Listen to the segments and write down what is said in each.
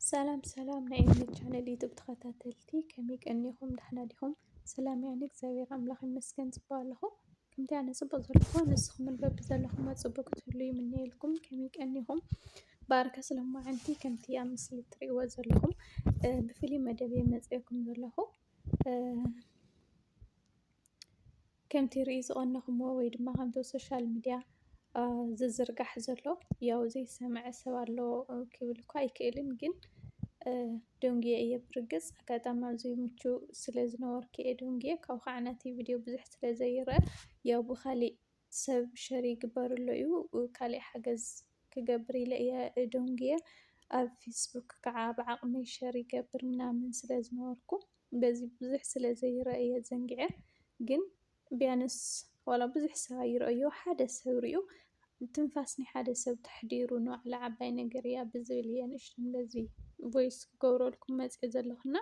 ሰላም ሰላም ናይ ኤሚ ቻነል ዩቱብ ተኸታተልቲ ከመይ ቀኒኹም? ዳሕና ዲኹም? ሰላም ያኒ እግዚኣብሔር ኣምላኽ ይመስገን ጽቡቅ ኣለኹ። ከምቲ ኣነ ጽቡቅ ዘለኹ ንስኹም በቢ ዘለኹም ጽቡቅ ክትህሉ ይምነየልኩም። ከመይ ቀኒኹም? ባርከ ስለማዓንቲ ከምቲ ኣብ ምስሊ እትርእይዎ ዘለኹም ብፍሉይ መደብ እየ መጺኤኩም ዘለኹ። ከምቲ ሪኢ ዝቀነኹሞ ወይ ድማ ከምቲ ኣብ ሶሻል ሚድያ ዝዝርጋሕ ዘሎ ያው ዘይሰመዐ ሰብ ኣሎ ክብል እኳ ኣይክእልን ግን ደንጉየ እየ ብርግፅ ኣጋጣሚ ኣብዚ ምችው ስለ ዝነበርኩ እየ ደንጉየ ካብኡ ከዓ ነቲ ቪድዮ ብዙሕ ስለ ዘይረአ ያው ብካሊእ ሰብ ሸር ይግበረሉ እዩ ካሊእ ሓገዝ ክገብር ኢለ እየ ደንጉየ ኣብ ፌስቡክ ከዓ ብዓቅመይ ሸር ይገብር ምናምን ስለ ዝነበርኩ። በዚ ብዙሕ ስለ ዘይረኣየ ዘንጊዐ ግን ቢያንስ ዋላ ብዙሕ ሰብ ኣይረኣዮ ሓደ ሰብ ሪኡ ትንፋስ ናይ ሓደ ሰብ ተሕዲሩ ንባዕሉ ዓባይ ነገር እያ ብዝብል እየ ንእሽተን በዚ ቮይስ ክገብረልኩም መፅኤ ዘለኹና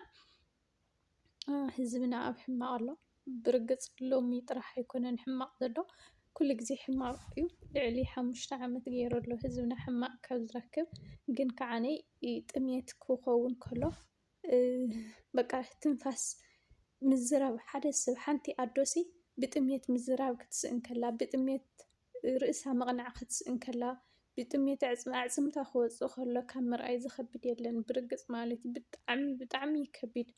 ህዝብና ኣብ ሕማቕ ኣሎ ብርግፅ ሎሚ ጥራሕ ኣይኮነን ሕማቕ ዘሎ ኩሉ ግዜ ሕማቕ እዩ ልዕሊ ሓሙሽተ ዓመት ገይሩ ኣሎ ህዝብና ሕማቕ ካብ ዝረክብ ግን ከዓነይ ጥሜት ክኸውን ከሎ በቃ ትንፋስ ምዝራብ ሓደ ሰብ ሓንቲ ኣዶሲ ብጥሜት ምዝራብ ክትስእን ከላ፣ ብጥሜት ርእሳ ምቕናዕ ክትስእን ከላ፣ ብጥሜት ኣዕፅምታ ክወፅእ ከሎ ካብ ምርኣይ ዝኸብድ የለን ብርግፅ ማለት እዩ። ብጣዕሚ ብጣዕሚ እዩ ከቢድ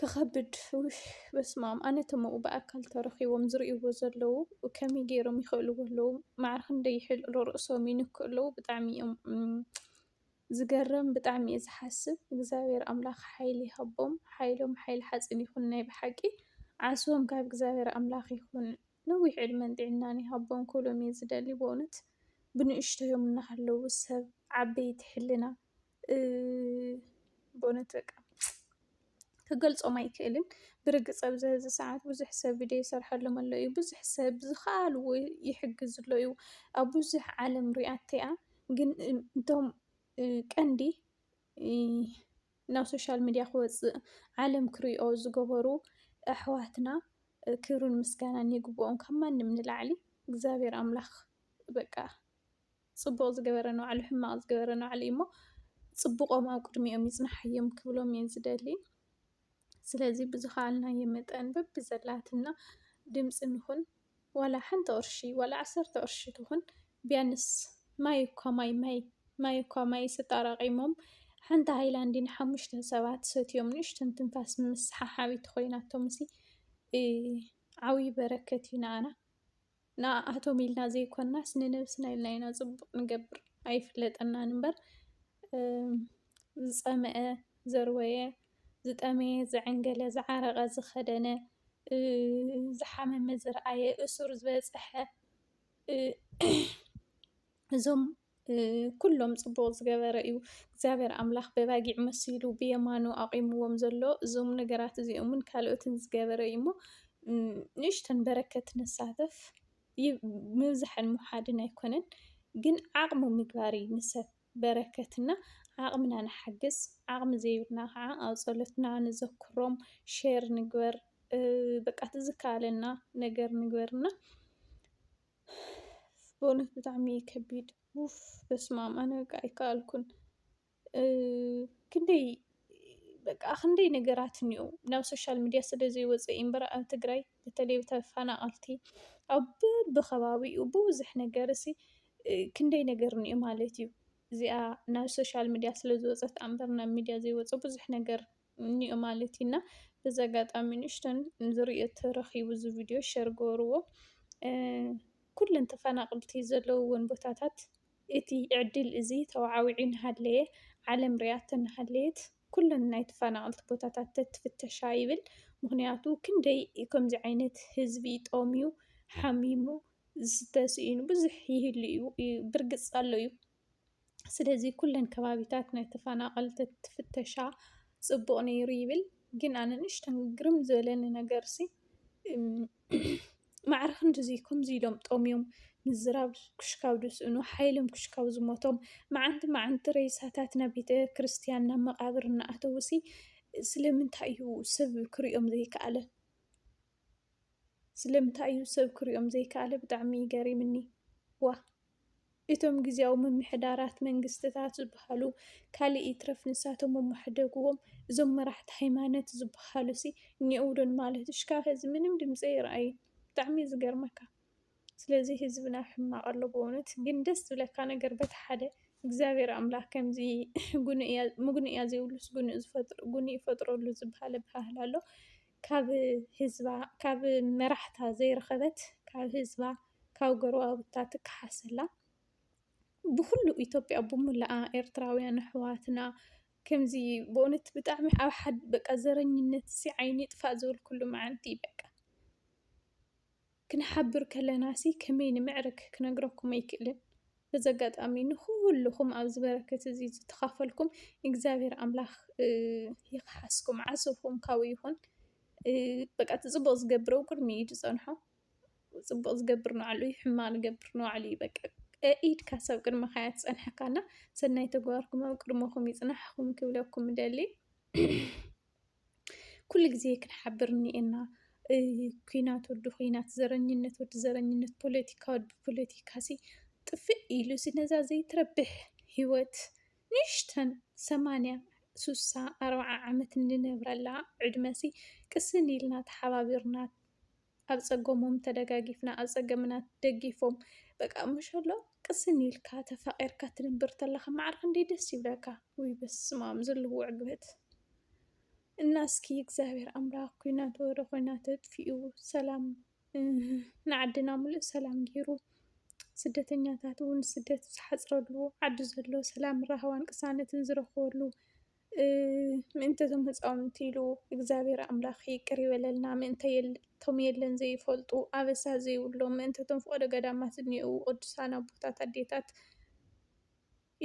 ክኸብድ ኡፍ በስመኣም ኣነ እቶም ኣብኡ ብኣካል ተረኺቦም ዝርእይዎ ዘለዉ ከመይ ገይሮም ይኽእልዎ ኣለዉ? ማዕረ ክንደይ ይሕልቕሉ ርእሶም ይንክኡ ኣለዉ ብጣዕሚ እዮም ዝገርም ብጣዕሚ እየ ዝሓስብ እግዚኣብሔር ኣምላክ ሓይሊ ይሃቦም ሓይሎም ሓይሊ ሓፂን ይኩን ናይ ብሓቂ ዓስቦም ካብ እግዚኣብሔር ኣምላክ ይኩን ነዊሕ ዕድመን ጥዕናን ይሃቦም ክብሎም እየ ዝደሊ በእውነት ብንእሽተዮም እናሃለዉ ሰብ ዓበይቲ ሕልና በእውነት በቃ። ክገልጾም ኣይክእልን ብርግጽ ኣብዚ ሐዚ ሰዓት ብዙሕ ሰብ ቪድዮ ይሰርሐሎም ኣሎ እዩ። ብዙሕ ሰብ ብዝከኣልዎ ይሕግዝ ኣሎ እዩ። ኣብ ብዙሕ ዓለም ሪኣቶ እያ ግን እቶም ቀንዲ ናብ ሶሻል ሚድያ ክወፅእ ዓለም ክሪኦ ዝገበሩ ኣሕዋትና ክብርን ምስጋናን ይግበኦም ካብ ማንም ንላዕሊ እግዚኣብሔር ኣምላክ በቃ። ጽቡቕ ዝገበረ ንባዕሉ ሕማቕ ዝገበረ ንባዕሉ እዩ እሞ ጽቡቖም ኣብ ቅድሚኦም ይጽናሓዮም ክብሎም እየ ዝደሊ ስለዚ ብዝኸኣልናዮ መጠን በብዘላትና ድምፂ ንኹን ዋላ ሓንቲ ቅርሺ ዋላ ዓሰርተ ቅርሺ ትኹን ቢያንስ ማይ እኳ ማይ ማይ ማይ እኳ ማይ ስጣራቂሞም ሓንቲ ሃይላንዲ ንሓሙሽተ ሰባት ሰትዮም ንእሽተን ትንፋስ ምስሓሓቢት ኮይናቶም ሲ ዓብዪ በረከት እዩ ንኣና ንኣኣቶም ኢልና ዘይኮናስ ንነብስና ኢልና ኢና ፅቡቅ ንገብር ኣይፍለጠናን እምበር ዝፀመኣ ዘርወየ ዝጠመየ ዘዐንገለ ዝዓረቀ ዝከደነ ዝሓመመ ዝረኣየ እሱር ዝበፀሐ እዞም ኩሎም ጽቡቕ ዝገበረ እዩ። እግዚኣብሔር ኣምላኽ በባጊዕ መሲሉ ብየማኑ ኣቚምዎም ዘሎ እዞም ነገራት እዚኦምን ካልኦትን ዝገበረ እዩ እሞ ንእሽተን በረከት ንሳተፍ ምብዛሕን ምውሓድን ኣይኮነን ግን ዓቕሚ ምግባር እዩ ንሰብ በረከት እና ዓቕምና ንሓግዝ ዓቕሚ ዘይብልና ኸዓ ኣብ ጸሎትና ንዘክሮም ሼር ንግበር በቃ እቲ ዝከኣለና ነገር ንግበር እና ብእውነት ብጣዕሚ እዩ ከቢድ ውፍ በስማም ኣነ በቃ ኣይከኣልኩን ክንደይ በቃ ክንደይ ነገራት እኒኦ ናብ ሶሻል ሚድያ ስለዘይወፀ እዩ እምበር ኣብ ትግራይ በተለይ ተፈናቀልቲ ኣብ በቢከባቢኡ ብብዙሕ ነገር እዚ ክንደይ ነገር እኒኦ ማለት እዩ እዚኣ ናብ ሶሻል ሚድያ ስለዝወፀት እያ እምበር ናብ ሚድያ ዘይወፀ ብዙሕ ነገር እኒኦ ማለት እዩ እና በዚ ኣጋጣሚ ንእሽተን ዝርእዮ ተረኺቡ እዚ ቪድዮ ሸር ገበርዎ ኩለን ተፈናቕልቲ ዘለውዎን ቦታታት እቲ ዕድል እዚ ተወዓዊዑ እናሃለየ ዓለም ሪኣቶ እናሃለየት ኩለን ናይ ተፈናቐልቲ ቦታታት ተትፍተሻ ይብል ምኽንያቱ ክንደይ ከምዚ ዓይነት ህዝቢ ጠምዩ ሓሚሙ ዝስተ ስኢኑ ብዙሕ ይህሉ እዩ ብርግፅ ኣሎ እዩ። ስለዚ ኩለን ከባቢታት ናይ ተፈናቀልቲ እንትፍተሻ ፅቡቅ ነይሩ ይብል። ግን ኣነ ንእሽተይ ግርም ዝበለኒ ነገር ሲ ማዕረ ክንድዚ ከምዚ ኢሎም ጠምዮም ምዝራብ ክሻብ ዝስእኑ ሓይሎም ክሻብ ዝሞቶም መዓንቲ መዓንቲ ሬሳታት ናብ ቤተክርስትያን ናብ መቃብር እናኣተዉ ሲ ስለምንታይ እዩ ሰብ ክሪኦም ዘይከኣለ? ስለምንታይ እዩ ሰብ ክሪኦም ዘይካኣለ ብጣዕሚ እዩ ገሪምኒ ዋእ እቶም ግዝያዊ ምምሕዳራት መንግስትታት ዝባሃሉ ካሊእ ይትረፍ ንሳቶም እሞ ሕደግዎም እዞም መራሕቲ ሃይማነት ዝባሃሉሲ እኒኦው ዶ ንማለት ሽካዕ ኸዚ ምንም ድምፂ ኣይረኣይን ብጣዕሚ እዩ ዝገርመካ ስለዚ ህዝብና ኣብ ሕማቅ ኣሎ በእውነት ግን ደስ ዝብለካ ነገር በቲ ሓደ እግዚኣብሔር ኣምላክ ከምዚ ምጉንእያ ዘይብሉስ ጉንእ ዝፈጥር ጉንእ ይፈጥረሉ ዝባሃል ኣባሃህላ ኣሎ ካብ ህዝባ ካብ መራሕታ ዘይረኸበት ካብ ህዝባ ካብ ጎረባብታ ትከሓስ ኣላ። ብኹሉ ኢትዮጵያ ብሙሉኣ ኤርትራውያን ኣሕዋትና ከምዚ በእውነት ብጣዕሚ ኣብ ሓድ በቃ ዘረኝነት'ዚ ዓይኒ ይጥፋእ ዝበልኩሉ መዓልቲ እዩ በቃ። ክንሓብር ከለናሲ ከመይ ንምዕርግ ክነግረኩም ኣይክእልን። በዚ ኣጋጣሚ ንኹሉኹም ኣብዚ በረከት እዚ ዝተኻፈልኩም እግዚኣብሔር ኣምላኽ ይኽሓስኩም፣ ዓስብኹም ካብኡ ይኹን። በቃ እቲ ፅቡቕ ዝገብር ኣብ ቅድሚኡ እዩ ዝፀንሖ። ፅቡቕ ዝገብር ንባዕሉ እዩ፣ ሕማቕ ዝገብር ንባዕሉ እዩ። በቃ ኢድካስ ኣብ ቅድመኻ እያ ትፀንሐካ እና ሰናይ ተግባርኩም ኣብ ቅድመኹም ይፅናሕኹም ክብለኩም እደሊ። ኩሉ ግዜ ክንሓብር እኒኤና ኲናት ወዲ ዂናት፣ ዘረኝነት ወዲ ዘረኝነት፣ ፖለቲካ ወዲ ፖለቲካ ሲ ጥፍእ ኢሉ እዚ ነዛ ዘይትረብሕ ህይወት ንእሽተን ሰማንያ፣ ስሳ፣ ኣርብዓ ዓመት እንነብረላ ዕድመ ሲ ቅስን ኢልና ተሓባቢርና፣ ኣብ ጸገሞም ተደጋጊፍና ኣብ ጸገምና ደጊፎም በቃ መሸሎ ቅስን ኢልካ ተፋቂርካ ትንብር ተለካ ማዕረ ክንደይ ደስ ይብለካ ውይ በስማም ዘለዎ ዕግበት እና እስኪ እግዚኣብሔር ኣምላክ ኩናት ወረ ኩናት ኣጥፊኡ ሰላም ንዓድና ሙሉእ ሰላም ገይሩ ስደተኛታት እውን ስደት ዝሓፅረሉ ዓዲ ዘሎ ሰላም ራህዋን ቅሳነትን ዝረክበሉ ምእንተ እዞም ህፃውንቲ ኢሉ እግዚኣብሔር ኣምላክ ይቅር ይበለልና ምእንተ እቶም የለን ዘይፈልጡ ኣበሳ ዘይብሎም ምእንተ እቶም ፍቀዶ ገዳማት ዝኒእዉ ቅዱሳን ኣቦታት ኣዴታት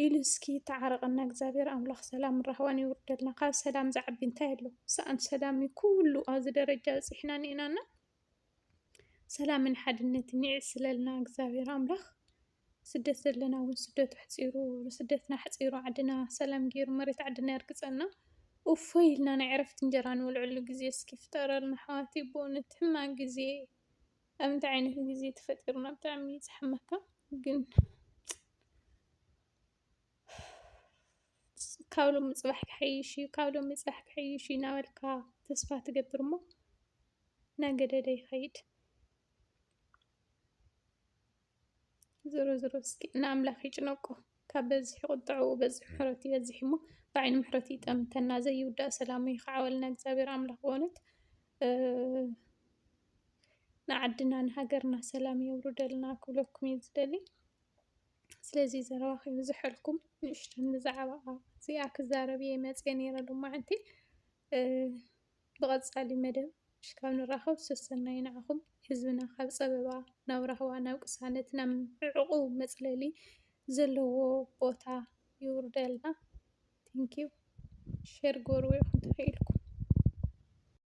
ኢሉ እስኪ ይተዓረቀና እግዚኣብሔር ኣምላክ ሰላምን ራህዋን የዉርደልና ካብ ሰላም ዝዓቢ እንታይ ኣሎ ሰኣን ሰላም እዩ ኩሉ ኣብዚ ደረጃ ኣብፂሕና እኒኤና እና ሰላምን ሓድነትን የዕስለልና እግዚኣብሔር ኣምላክ። ስደት ዘለና ውን ስደት ኣሕፂሩ ስደትና ኣሕፂሩ ዓድና ሰላም ገይሩ መሬት ዓድና የርግፀልና እፎይ ኢልና ናይ ዕረፍቲ እንጀራ ንበልዐሉ ግዜ እስኪ ይፍጠረልና ኣሕዋተይ በእውነት ሕማቅ ግዜ ኣብ እንታይ ዓይነት ግዜ ተፈጢርና ብጣዕሚ እዩ ዘሕመካ ግን ካብ ሎሚ ፅባሕ ክሓይሽ እዩ ካብ ሎሚ ፅባሕ ክሓይሽ እዩ እናበልካ ተስፋ ትገብር እሞ እናገደደ ይኸይድ። ዝሮ ዝሮ እስኪ ንኣምላኽ ይጭነቁ ካብ በዝሒ ቁጥዕኡ በዝሒ ምሕረቱ ይበዝሕ እሞ ብዓይኒ ምሕረቱ ይጠምተና ዘይውዳእ ሰላሙ ይኽዓወልና እግዚኣብሔር ኣምላኽ በእውነት ንዓድና ንሃገርና ሰላም የውርደልና ክብለኩም እዩ ዝደሊ ስለዚ ዘረባ ከይብዝሐልኩም ንእሽተን ብዛዕባ እዚኣ ክዛረብ እየ መፅየ ነይረ ሎማዕንቲ ብቀጻሊ መደብ እስካብ ንራከብ ሰሰናዩ ንዓኩም። ህዝብና ካብ ጸበባ ናብ ራህዋ ናብ ቅሳነት ናብ ዕዑቁ መጽለሊ ዘለዎ ቦታ የውርደልና። Thank you ሸር ግበርዎ ኢኩም ተኪኢልኩም።